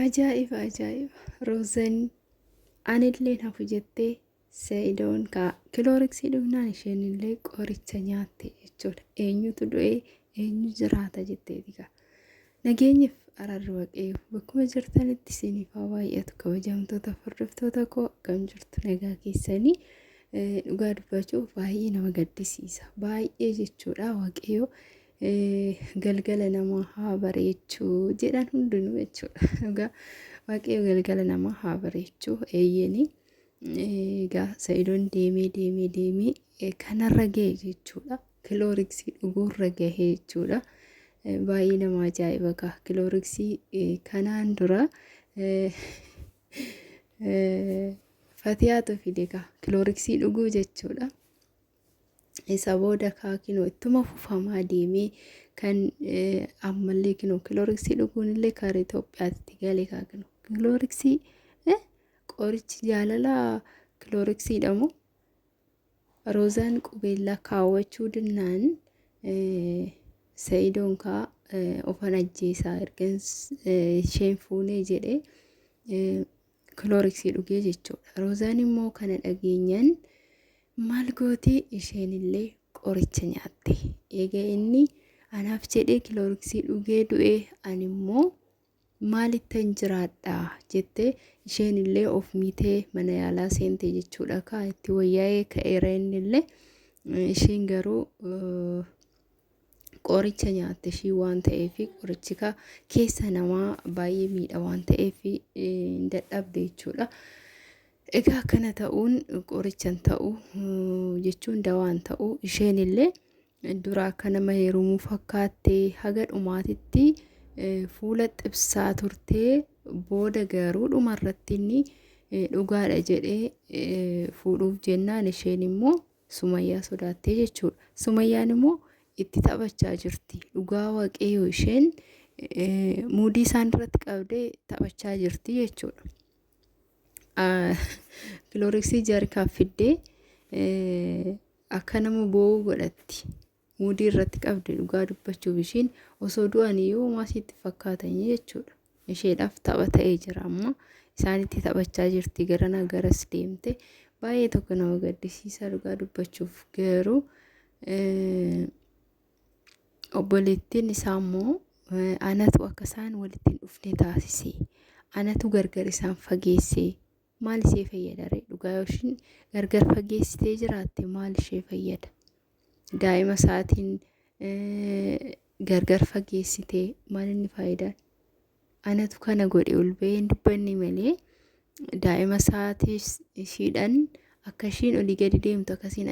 Ajaa'iba ajaa'iba Roozan anilleen hafu jettee Sa'idoon kaa kilooriksii dhumnaan isheen illee qoricha nyaatte jechuudha. Eenyutu du'ee eenyu jiraata jetteeti kaa. Nageenyif ararri waqeeyu bakkuma jirtanitti isiniif haa baay'atu kabajamtoota hordoftoota koo akkam jirtu nagaa keessanii dhugaa dubbachuu baay'ee nama gaddisiisa baay'ee jechuudha waqeeyu galgala namaa haa bareechu jedhan hundinuu jechuudha. Dhugaa waaqayyo galgala namaa haa bareechu eeyyeni egaa sa'idoon deemee deemee deemee eh, kanarra gahe jechuudha. Kilooriksii dhuguurra gahe jechuudha. Eh, Baay'ee nama ajaa'iba kaa kilooriksii eh, kanaan dura eh, eh, fatiyaatu fide kaa kilooriksii dhuguu jechuudha. Isa booda kaa kinoo ittuma fufamaa deemee kan ammallee kinoo kilooriksii dhuguun illee kaara Itoophiyaatti galee kaa kinoo kilooriksii qorichi jaalalaa kilooriksii dhamu roozaan qubeellaa kaawwachuu dinnaan sa'idoon kaa ofan ajjeesaa ergan isheen fuunee jedhee kilooriksii dhugee jechuudha. Roozaan immoo kana dhageenyan maal gootee isheenillee qoricha nyaatte. Eega inni anaaf jedhee kilooriksii dhugee du'e ani immoo maalittan jiraadha jettee isheenillee of miitee mana yaalaa seente jechuudha kaa itti wayyaa'ee ka'eera innillee isheen garuu qoricha nyaatte ishii waan ta'eef qorichi ka keessa namaa baay'ee miidha waan ta'eef hin dadhabde jechuudha. Egaa akkana ta'uun qoricha hin ta'u jechuun dawaa hin ta'u isheen illee dura akka nama heerumuu fakkaattee haga dhumaatitti fuula xibsaa turtee booda garuu dhumarratti inni dhugaadha jedhee fuudhuuf jennaan isheen immoo Sumayyaa sodaattee jechuudha. Sumayyaan immoo itti taphachaa jirti. Dhugaa waaqayyoo isheen muudii isaan irratti qabdee taphachaa jirti jechuudha. Kilooriksii jaarkaaf fiddee akka nama boo'uu godhatti. Muudii irratti qabdi dhugaa dubbachuuf ishiin osoo du'aniyyuu homaa siitti hin fakkaatanii jechuudha. Isheedhaaf tapha ta'ee jira amma isaanitti taphachaa jirti garanaa garas deemte baay'ee tokko nama gaddisiisaa dhugaa dubbachuuf garuu eh, obboleettiin isaa immoo eh, anatu akka isaan walitti hin dhufne taasise anatu gargar isaan fageesse maal ishee fayyada ree dhugaa yoo ishiin gargar fageessitee jiraatte maal ishee fayyada daa'ima isaatiin gargar fageessitee maal inni faayidaan anatu kana godhe ol ba'ee hin dubbanne malee daa'ima isaatiis ishiidhaan akka ishiin olii gadi deemtu akkasiin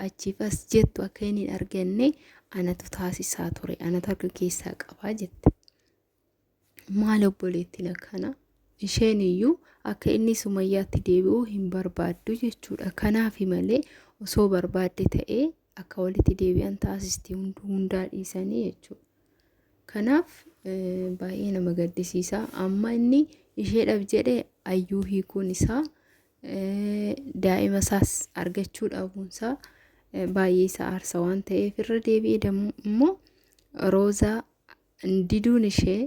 achiif as jettu akka inni hin arganne anatu taasisaa ture anatu harka keessaa qabaa jette. maal obboleettiin akkana isheen iyyuu akka inni sumayyaatti deebi'uu hin barbaaddu jechuudha kanaaf malee osoo barbaadde ta'ee akka walitti deebi'an taasisti hundaa dhiisanii jechuudha kanaaf baay'ee nama gaddisiisa amma inni isheedhaaf jedhe ayyuu hiikuun isaa daa'ima isaas argachuu dhabuun isaa baay'ee isa aarsa waan ta'eef irra deebi'ee immoo roozaa diduun ishee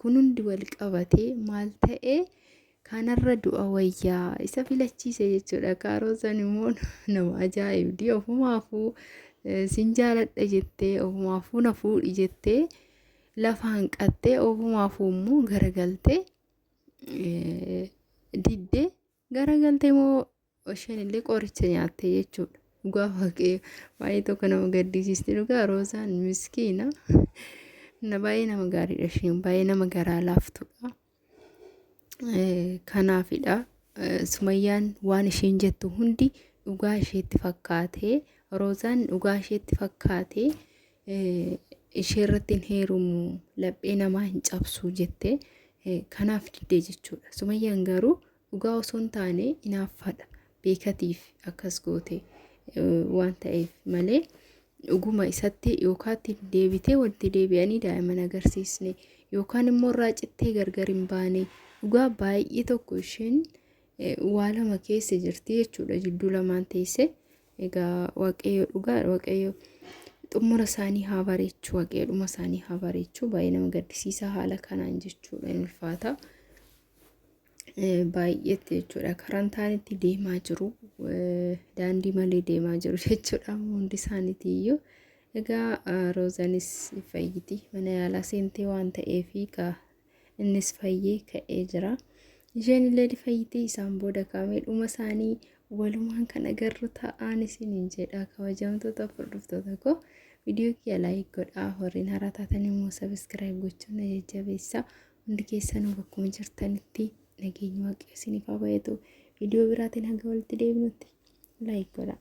kun hundi wal qabatee maal ta'e kanarra du'a wayyaa isa filachiise jechuudha kaaroosan immoo nama ajaa'ibdi ofumaafuu eh, sin jaaladha jettee ofumaafuu na fuudhi jettee lafa hanqattee ofumaafuu immoo garagaltee eh, diddee Garagalte moo isheen illee qoricha nyaatte jechuudha. Dhugaa waaqayyo baay'ee tokko nama gaddisiisti dhugaa roozaan miskiina. Na baay'ee nama gaariidha isheen baay'ee nama garaa laaftudha. Kanaafidha sumayyaan waan isheen jettu hundi dhugaa isheetti fakkaatee roozaan dhugaa isheetti fakkaatee ishee irratti hin heerumu laphee namaa hin cabsu jettee kanaaf diddee jechuudha. Sumayyaan garuu dhugaa osoo hin taane inaaffaadha beekatiif akkas goote waan ta'eef malee dhuguma isatti yookaatti deebitee walitti deebi'anii daa'imman agarsiisne yookaan immoo irraa cittee gargar hin baane dhugaa baay'ee tokko isheen waa lama keessa jirti jechuudha jidduu lamaan teessee Egaa waaqayyo dhugaadha waaqayyo xumura isaanii haa bareechu waaqayyo dhuma isaanii haa bareechu baay'ee nama gaddisiisaa haala kanaan jechuudha hin ulfaata. Eh, Baay'eetti jechuudha karaan taanitti deemaa jiru eh, daandii malee deemaa jiru jechuudha amma hundi isaaniitii iyyuu. Egaa ah, Roozanis fayyiti mana yaalaa seentee waan ta'eef egaa Innis fayyee ka'ee jira. Isheen illee ni fayyitee isaan booda kaamee dhuma isaanii walumaan kan agarru ta'aan isiniin jedha kabajamtoota hordoftoota koo. Viidiyoo kiyya laayik godhaa horiin haaraa taatan immoo sabiskiraayib gochuun na jajjabeessaa. Hundi keessanuu bakkuma jirtanitti nageenyi waaqayyo isiniif haa baay'atu. Viidiyoo biraatiin hanga walitti deebinutti laayik godhaa.